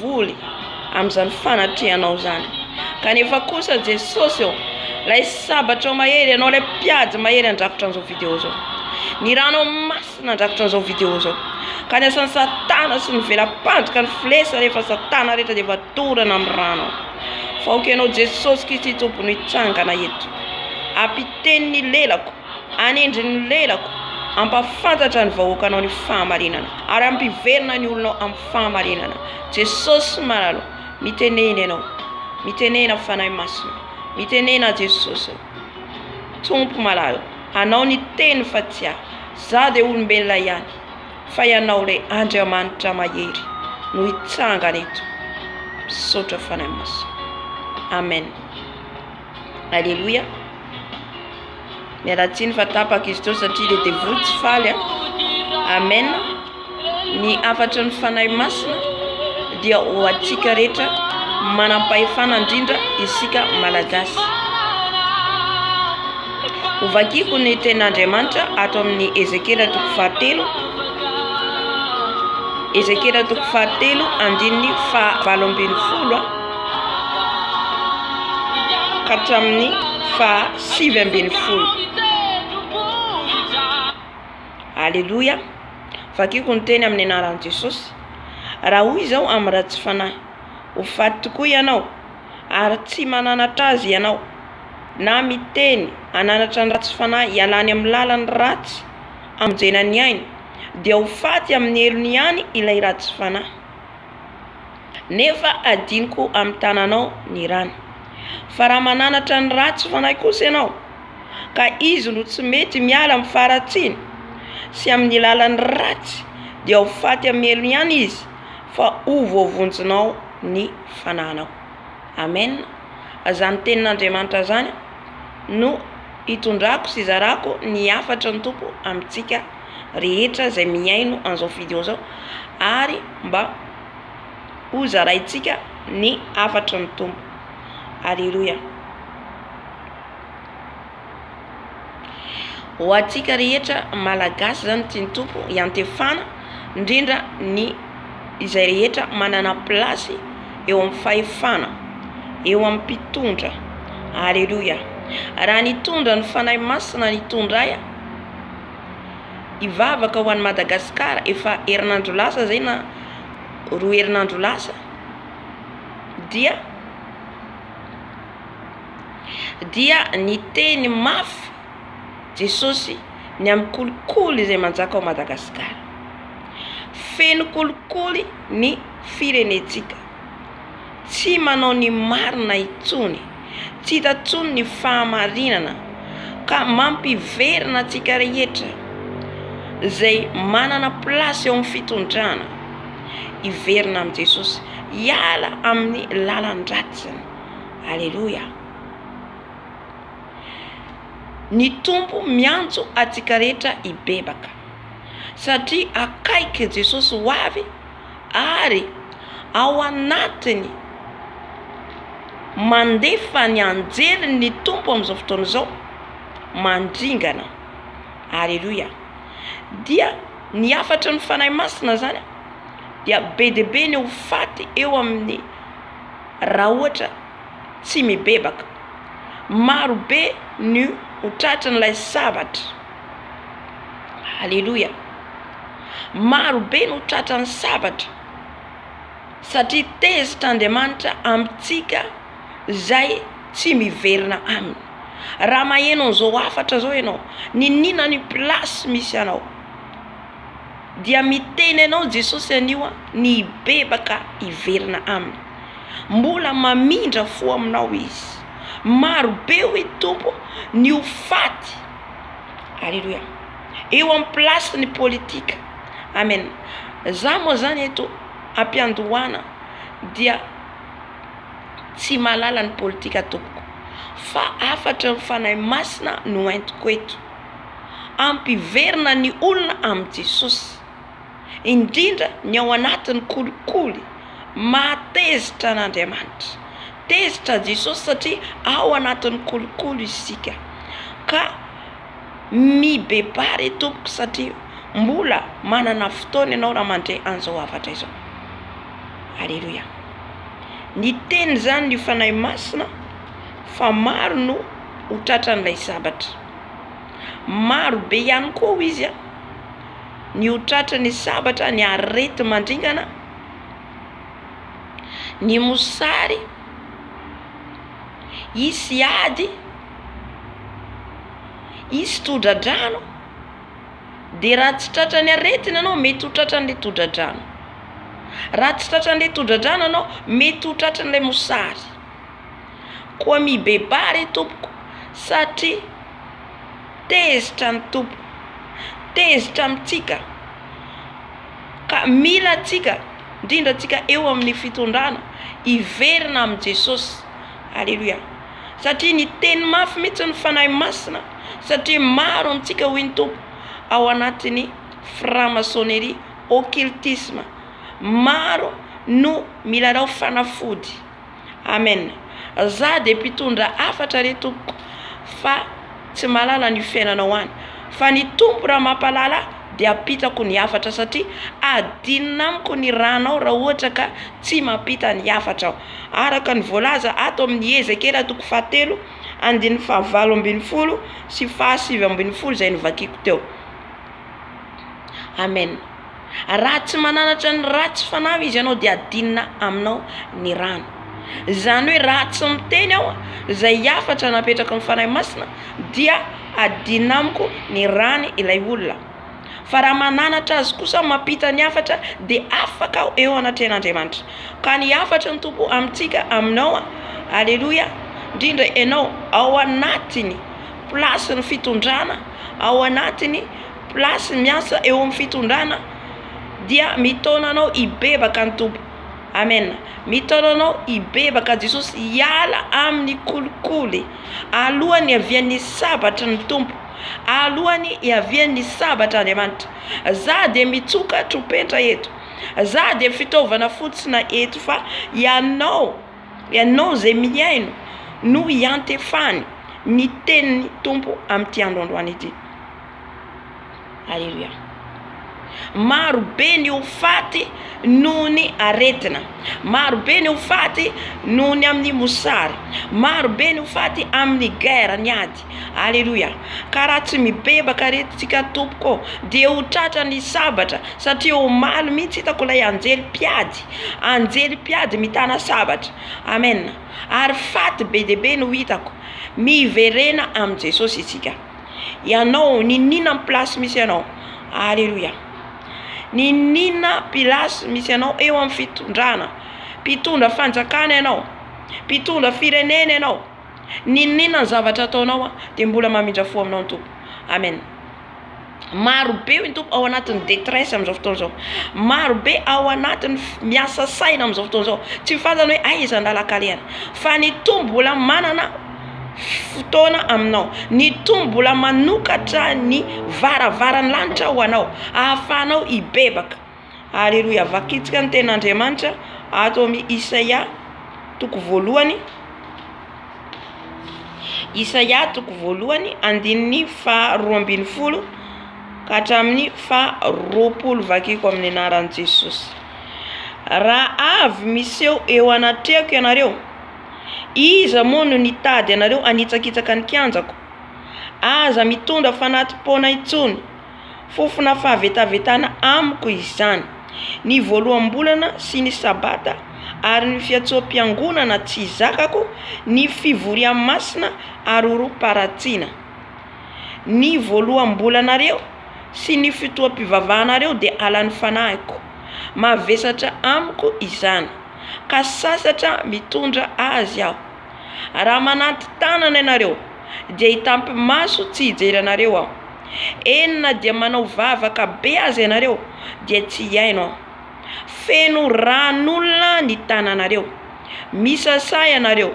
voly amin'izany fanatrehanao izany. Kanefa kosa Jesosy ô, ilay sabatrao mahery, ianao ilay mpiady mahery handrafitra an'izao video izao. Ny ranao masina handrafitra an'izao video izao. Ka ny asan'i satana sy ny vela-pandrika ny filesa rehefa satana rehetra dia efa dorana amin'ny rano. Fa aoka ianao Jesosy Kristy Tompo no hitsangana eto. Ampiteno ny lelako. Anindry ny lelako, ampahafantatra ny vahoakanao ny fahamarinana, ary ampiverina ny olonao amin'ny fahamarinana. Jesosy malala o, mitenena Ianao, mitenena Fanahy Masina, mitenena Jesosy o. Tompo malala o, Anao niteny fa tsy ahy, za dia olombelona ihany, fa Ianao ilay Andriamanitra mahery no hitsangana eto. Misaotra Fanahy Masina. Amen. Aleloia. Mialatsiny fa tapaka izy teo satria le devoly tsy faly a. Amen. Ny hafatry ny Fanahy Masina dia ho antsika rehetra manam-pahefana indrindra isika malagasy. Hovakiko ny tenin'Andriamanitra ato amin'ny Ezekiela toko fahatelo. Ezekiela toko fahatelo andininy faha valo ambin'ny folo a. ka hatramin'ny faha sivy ambin'ny folo. Aleloia, vakiko ny teny amin'ny anaran'i Jesosy, raha hoy izao amin'ny ratsy fanahy, ho faty tokoa ianao ary tsy mananatra azy ianao, na miteny hananatra ny ratsy fanahy hialany amin'ny lalany ratsy hamonjena ny ainy dia ho faty amin'ny helony ihany ilay ratsy fanahy. Nefa hadinoko amin'ny tananao ny rany. Fa raha mananatra ny ratsy fanahy kosa ianao, ka izy no tsy mety miala amin'ny faharatsiany sy amin'ny lalan'ny ratsy, dia ho faty hamelony ihany izy, fa ho voavonjinao ny fananao. Amen. Azany tenin'Andriamanitra azany no itondrako sy izarako ny hafatry ny Tompo amintsika. rehetra izay mihaino an'izao vidéo zao ary mba ho zaraintsika ny hafatry ny Tompo. Alléluia. Ho antsika rehetra malagasy izany tian'ny Tompo iantefana indrindra ny izay rehetra manana place eo amin'ny fahefana, eo amin'ny mpitondra. Alléluia. Raha nitondra ny Fanahy Masina nitondray a. hivavaka ho an'i Madagasikara efa herinandro lasa zay na roa herinandro lasa dia dia niteny mafy Jesosy ny amin'ny kolikoly izay manjaka ao Madagasikara. Feno kolikoly ny firenentsika. Tsy manao ny marina intsony. Tsy hita intsony ny fahamarinana. Ka mampiverina antsika rehetra izay manana place eo amin'ny fitondrana hiverina amin'i Jesosy, hiala amin'ny lalan-dratsiny. Aleloia. Ny Tompo miantso antsika rehetra hibebaka satria akaiky Jesosy ho avy. ary ao anatiny mandefa ny anjeliny ny Tompo amin'izao fotoana izao mandringana. Aleloia. Dia ny hafatry ny Fanahy Masina izany dia be dia be ny ho faty eo amin'ny raha ohatra tsy mibebaka. Marobe ny ho tratrin'ilay sabatra. Aleloia! Maro be no tratran'ny sabatra satria tezitra Andriamanitra amintsika izay tsy miverina aminy. Raha maheno an'izao hafatra izao ianao, niniana ny place misy anao, dia miteny anao Jesosy anio aho ny hibebaka hiverina aminy. Mbola mamindra fo aminao Izy. Maro be hoy ny Tompo ny ho faty. Aleloia eo am place ny politika amen za moa zany eto ampiandohana dia tsy mahalala ny politika tompoko fa afatra ny fanahy masina no entiko eto ampiverina ny olona amin'i Jesosy. indrindra ny ao anatin'ny kolikoly maha tezitra an'Andriamanitra. Tezitra an'i Jesosy satria ao anatin'ny kolikoly isika ka mibebaha re tompoko satria mbola manana fotoana ianao raha mandre an'izao hafatra izao. Aleloia. Ny teny izany ny Fanahy Masina fa maro no ho tratran'ilay sabatra. Maro be ihany koa hoy izy a. ny ho tratry ny sabatra, ny areti-mandringana, ny mosary, hisy ady, hisy todradrano, de raha tsy tratra ny aretina enao mety ho tratra anle todradrano, raha tsy tratra anle todradrano enao mety ho tratry ilay mosary, koa mibebaha re tompoko satria. Tezitra ny Tompo. Tezitra amintsika. Ka mila antsika, indrindra antsika eo amin'ny fitondrana, hiverina amin'i Jesosy. Aleloia. Satria niteny mafy mihitsy ny Fanahy Masina, satria maro amintsika, hoy ny Tompo, ao anatin'ny franc-maçonnerie, occultisme. Maro no milalao fanafody. Amen za de mpitondra hafatra re tompoko fa tsy mahalala an'io fiainanao any fa ny tompo raha mampahalala ahy de ampitako ny hafatra satria adinona amiko ny ranao raha ohatra ka tsy mampita ny hafatra aho araka ny voalaza ato amin'ny ezekela toko fahatelo andininy fahavalo ambin'ny folo sy fahasivy ambin'ny folo izay novakiako teo Amen raha tsy mananatra ny ratsy fanahy izy ianao dia adinina aminao ny rano izany hoe raha tsy miteny aho izay hafatra napetraka ny fanahy masina dia adinina amiko ny rany ilay olona fa raha mananatra azy kosa mampita ny hafatra dia afaka aho eo anatrehan'Andriamanitra ka ny hafatry ny tompo amintsika aminao aleloia indrindra ianao ao anatiny plasin'ny fitondrana ao anatiny plasy miasa eo amin'ny fitondrana dia mitaona anao hibebaka ny tompo amen mitaona anao hibebaka jesosy hiala amin'ny kolikoly alohan'ny avian'ny sabatry ny tompo alohan'ny iavian'ny sabatra andriamanitra za de mitsoka tropetra eto za de fitaovana fotsina eto fa ianao Ianao izay mihaino no iantefany ny tenin'ny Tompo amin'ity andro androany ity. Aleloia. Maro be ny ho faty noho ny aretina, maro be ny ho faty noho ny amin'ny mosary, maro be ny ho faty amin'ny guerre, ny ady. Aleloia! Ka raha tsy mibebaka re tsika tompoko ô, dia ho tratra ny sabatra, satria omaly mihitsy hitako ilay anjely mpiady, anjely mpiady mitana sabatra, amen, ary faty be dia be no hitako, miverena amin'i Jesosy isika, ianao niniana amin'ny place misy anao, aleloia, niniana place misy anao eo amin'ny fitondrana, mpitondra fanjakana ianao, mpitondra firenena ianao. N'inon'inona ny zavatra ataonao an dia mbola mamindra fo aminao ny Tompo. Amen. Maro be hoy ny Tompo ao anatin'ny detresse amin'izao fotoana izao. Maro be ao anatin'ny miasa saina amin'izao fotoana izao. Tsy ny fantany hoe aiza an-dalan-kalehana. Fa ny Tompo mbola manana fotoana aminao. Ny Tompo mbola manokatra ny varavaran'ny lanitra ho anao. Ahafahanao hibebaka. ary rohy avakitsika ny ten'Andriamanitra ato amin'ny Isaia toko voalohany Isaia toko voalohany andininy fa roa ambin'ny folo ka hatramin'ny fa roapolo vakiko amin'ny anaran'i Jesosy raha avy miseho eo anatrehako ianareo iza moa no nitady ianareo hanitsakitsaka ny kianjako aza mitondra fanati-poana intsony Fofona fahavetavetana amiko izany. Ny voaloham-bolana sy ny sabata ary ny fiantsoam-piangonana tsy zakako, ny fivorian masina ary orom-paratsiana. Ny voaloham-bolanareo sy ny fotoam-pivavahanareo dia halan'ny fanahiko. Mavesatra amiko izany. Ka sasatra mitondra azy aho. Raha mananti-tanana ianareo dia hitampy-maso tsy hijery anareo aho. Eny na dia manao vavaka be aza ianareo dia tsy hihaino aho. Feno ran'olona ny tananareo. Misasà ianareo.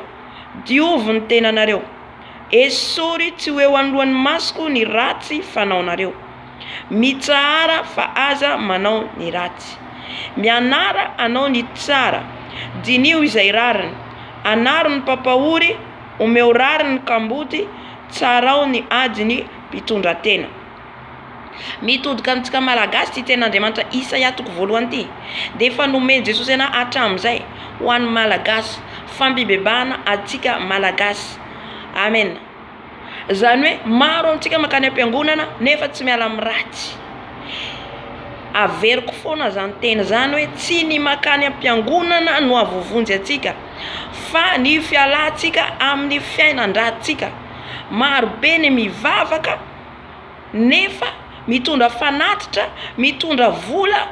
Diovy ny tenanareo. Esory tsy ho eo anoloan'ny masoko ny ratsy fanaonareo. Mitsahara fa aza manao ny ratsy. Mianara hanao ny tsara. Diniho izay rariny. Anaro ny mpampahory, omeo rariny ny kamboty, tsarao ny ady ny mpitondratena. Mitodika amintsika Malagasy ity tenin'Andriamanitra Isaia toko voalohany ity dia efa nomen'i Jesosy ana hatramin'izay ho an'ny Malagasy, fampibebahana antsika Malagasy. Amen. Izany hoe maro amintsika mankany am-piangonana nefa tsy miala amin'ny ratsy. Averiko foana izany teny izany hoe tsy ny mankany am-piangonana no ahavovonjy antsika fa ny fialantsika amin'ny fiainan-dratsika. Marobe ny mivavaka nefa mitondra fanatitra, mitondra vola,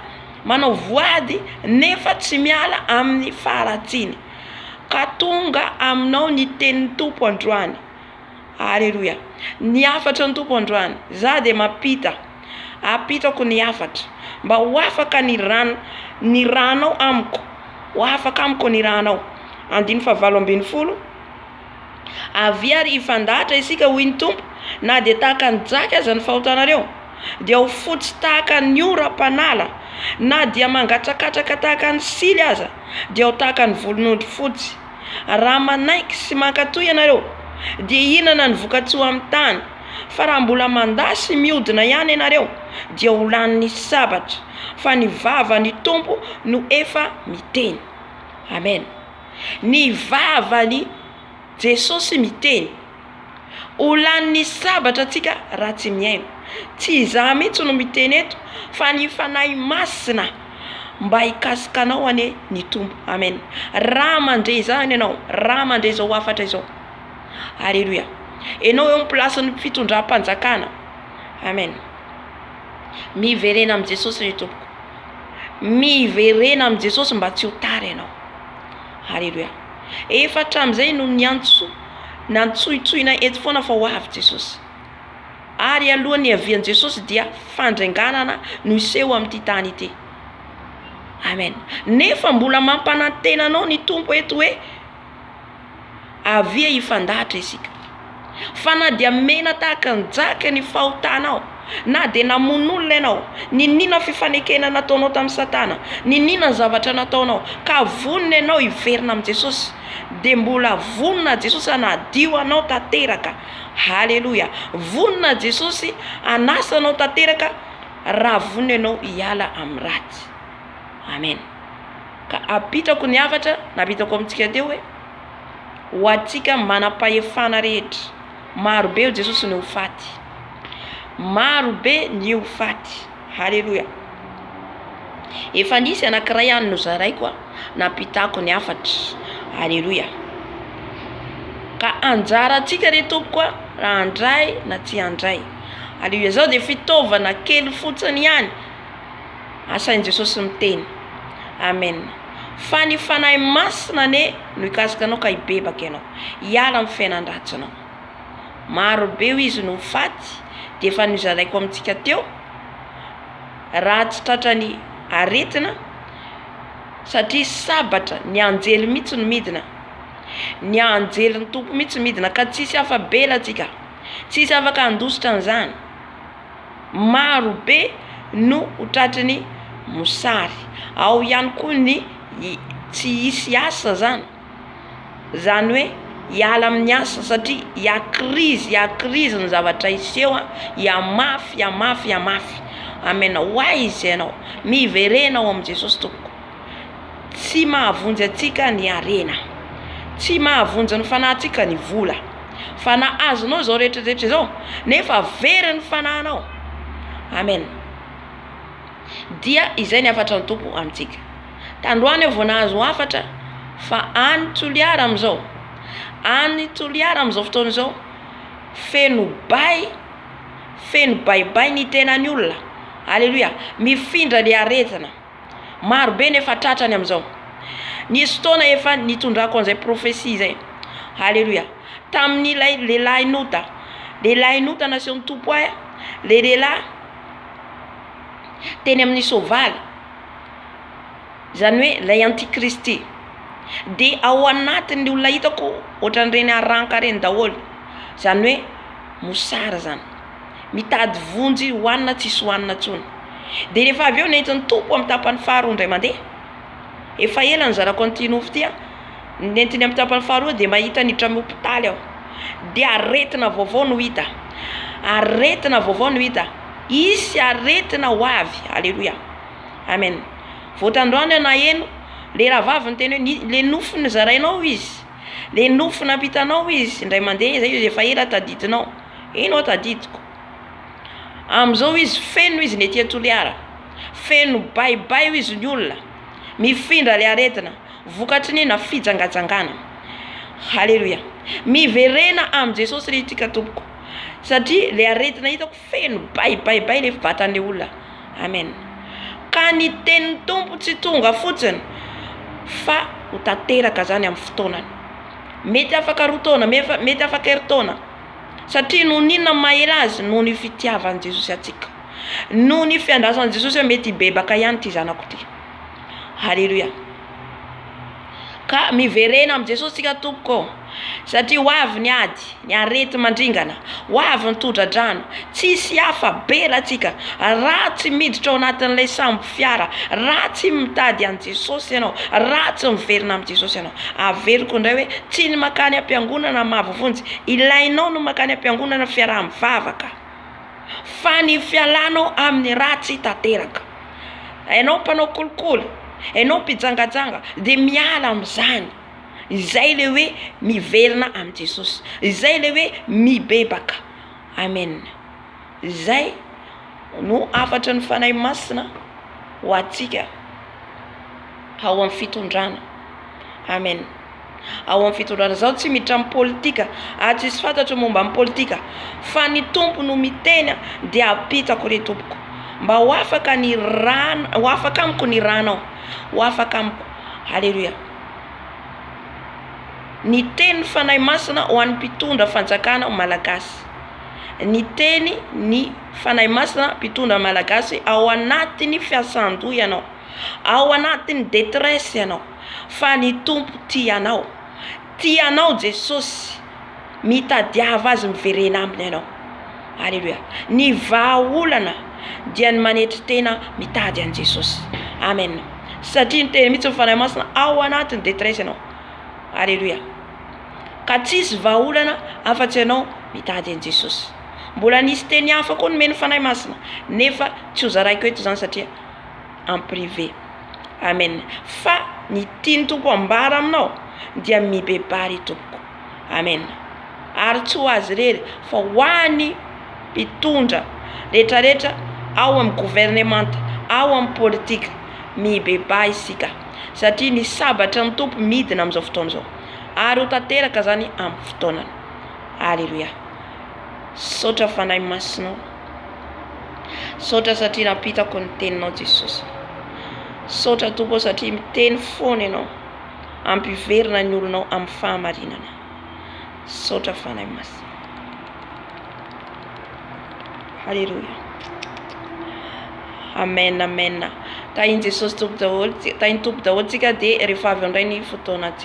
manao voady nefa tsy miala amin'ny faharatsiany. Ka tonga aminao ny tenin'ny Tompo androany. Aleloia. Ny hafatry ny Tompo androany. Za dia mampita. Ampitako ny hafatra. Mba ho afaka ny rano, ny ranao amiko. Ho afaka amiko ny ranao. Andininy fahavalo ambin'ny folo. Avia ary hifandahatra isika, hoy ny Tompo, na dia tahaka ny jaky aza ny fahotanareo, dia ho fotsy tahaka ny oram-panala, na dia mangatsakatsaka tahaka ny sily aza, dia ho tahaka ny volon'ondry fotsy. Raha manaiky sy mankatò ianareo, dia hihinana ny voka-tsoa amin'ny tany, fa raha mbola mandà sy mihodina ihany ianareo, dia ho lanin'ny sabatra, fa ny vavan'ny Tompo no efa miteny. Amena. Ny vavan'i Jesosy miteny. Ho lanin'ny sabatra antsika raha tsy mihaino. Tsy izaho mihitsy no miteny eto fa ny Fanahy Masina mba hikasika anao anie ny Tompo. Amen. Raha mandre izany ianao, raha mandre izao hafatra izao. Aleloia. Ianao eo amin'ny plasin'ny fitondram-panjakana. Amen. Miverena amin'i Jesosy ry tompoko. Miverena amin'i Jesosy mba tsy ho tara ianao. Haleloia. Efa hatramin'izay no niantso, nantsointsoina eto foana fa ho avy Jesosy. Ary alohan'ny hiavian'i Jesosy dia fandrenganana no hiseho amin'ity tany ity. Amen. Nefa mbola mampanantena anao ny Tompo eto hoe Avia hifandahatra isika. Fa na dia mena tahaka ny jaka ny fahotanao, na dia namono olona ianao, niniana ny fifanekena nataonao tamin'i Satana, niniana ny zavatra nataonao, ka vonona ianao hiverina amin'i Jesosy, dia mbola vonona Jesosy hanadio anao tanteraka. Haleloia! Vonona Jesosy hanasa anao tanteraka raha vonona ianao hiala amin'ny ratsy. Amen. Ka apetrako ny hafatra napetrako amintsika teo hoe ho antsika manam-pahefana rehetra. Maro be ho Jesosy ny ho faty. Maro be ny ho faty. Haleloia. Efa nisy anankiray any nozaraiko a, nampitako ny hafatra. Haleloia. Ka anjarantsika re tompoko a, raha handray na tsy handray. Haleloia. Zao dia fitaovana kely fotsiny ihany. Asain'i Jesosy miteny. Amen. Fa ny Fanahy Masina anie no hikasika anao ka hibebaka ianao. Hiala amin'ny fiainan-dratsinao. Maro be hoy izy no ho faty, dia efa nozaraiko amintsika teo, raha tsy tratran'ny aretina, satria sabatra, ny anjely mihitsy no midina. Ny anjelin'ny Tompo mihitsy midina ka tsisy afa-bela tsika. Tsisy afaka handositra an'izany. maro be no ho tratry ny mosary, ao ihany koa ny tsy hisy asa zany, zany hoe hiala amin'ny asa satria hiha-krizy hiha-krizy ny zavatra hiseho a, hihamafy hihamafy hihamafy, amen hoaiza ianao, miverena ao amin'i Jesosy tompoko. Tsy mahavonjy antsika ny harena. Tsy mahavonjy ny fanahintsika ny vola. Fa na azonao izao rehetrarehetra izao, nefa very ny fanahinao. Amen. Dia izay ny hafatra ny Tompo amintsika. Tandroany aho vao nahazo hafatra fa any Toliara amin'izao, any Toliara amin'izao fotoana izao, feno bay, feno baibay ny tenan'ny olona. Aleloia. Mifindra ilay aretina. Maro be ny efa tratrany amin'izao. Nisy fotoana efa nitondrako an'izay profesia izay. Haleloia. Tamin'ilay lehilahin'ota. Lehilahin'ota nasehon'ny Tompo ahy, ilay lehilahy teny amin'ny soavaly, izany hoe ilay antikristy. Dia ao anatin'ny olona hitako ohatran'ireny haranka ireny daholo, izany hoe mosary izany. mitady vonjy hohanina tsisy hohanina tsony de rehefa avy eo nentin'ny Tompo amin'ny tapany faha roa indray mande efa ela nizarako an'ity nofo ity a nentiny amin'ny tapany faha roa de mahita niditra amin'ny hopitaly aho de aretina vaovao no hita aretina vaovao no hita hisy aretina ho avy aleloia amen vao tandroany aho naheno le rahavavy niteny hoe ny le nofo nizarainao izy le nofo nampitanao izy indray mande zay efa ela tadidinao. Eny ho'a tadidiko. Amin'izao hoy izy, feno izy ny ety an-Toliara. Feno baibay hoy izy ny olona. Mifindra ilay aretina. Vokatry ny inona? Fijangajangana. Haleloia. Miverena amin'i Jesosy ry itrika tompoko. Satria ilay aretina hitako feno baibaibay ilay vatan'ilay olona. Amen. Ka ny tenin'ny Tompo tsy tonga fotsiny fa ho tanteraka izany amin'ny fotoanany. Mety afaka roa taona, mety afaka herintaona. Satria noho ny inona no maha-ela azy? Noho ny fitiavan'i Jesosy antsika. Noho ny fiandrasan'i Jesosy hoe mety hibebaka ihany ity zanako ity. Haleloia. Ka miverena amin'i Jesosy isika tompoko ô. Satria ho avy ny ady, ny areti-mandringana, ho avy ny tohodradrano. Tsisy hafa, beratsika, raha tsy miditra ao anatin'ilay sambo. fiara, raha tsy mitady an'i Jesosy ianao, raha tsy miverina amin'i Jesosy ianao. Averiko indray hoe, tsy ny mankany am-piangonana mahavovonjy, ilainao ny mankany am-piangonana fiaraha-mivavaka, fa ny fialanao amin'ny ratsy tanteraka. Ianao mpanao kolikoly, ianao mpijangajanga, dia miala amin'izany. Izay ilay hoe miverina amin'i Jesosy. Izay ilay hoe mibebaka. Amen. Izay no hafatry ny Fanahy Masina ho antsika ao amin'ny fitondrana. Amen. Ao amin'ny fitondrana. Zaho tsy miditra amin'ny politika ary tsisy fantatro momba ny politika fa ny Tompo no miteny dia ampitako re Tompoko mba ho afaka ny rana ho afaka amiko ny ranao. Ho afaka amiko. Haleloia. Ny tenin'ny Fanahy Masina ho an'ny mpitondra fanjakana malagasy. ny teny ny Fanahy Masina mpitondra Malagasy ao anatin'ny fiasan-doha ianao, ao anatin'ny détresse ianao fa ny Tompo tia anao, tia anao Jesosy, mitadiava Azy miverena aminy ianao, aleloia, ny vahaolana dia ny manetry tena mitady an'i Jesosy, amen, satria niteny mihitsy ny Fanahy Masina ao anatin'ny détresse ianao, aleloia. ka tsy hisy vahaolana afa-tsy ianao mitady an'i Jesosy. Mbola nisy teny hafa koa nomen'ny Fanahy Masina nefa tsy hozaraiko eto izany satria en privé. Amen. Fa ny tian'ny Tompo hambara aminao dia mibebaha ry Tompoko. Amen. Ary tsy ho azy irery fa ho an'ny mpitondra rehetrarehetra ao amin'ny governemanta, ao amin'ny politika. Mibebaha isika satria ny sabatra ny Tompo midina amin'izao fotoana izao. ary ho tanteraka zany amin'ny fotoanany. Aleloia. Misaotra Fanahy Masinao. Misaotra satria nampitako ny teninao Jesosy. Misaotra Tompo satria miteny foana ianao. Ampiverina ny olonao amin'ny fahamarinana. Misaotra Fanahy Masina. Aleloia. Amen, amen. Tahin'i Jesosy Tompo daholo, tahin'ny Tompo daholo tsika dia rehefa avy eo indray ny fotoana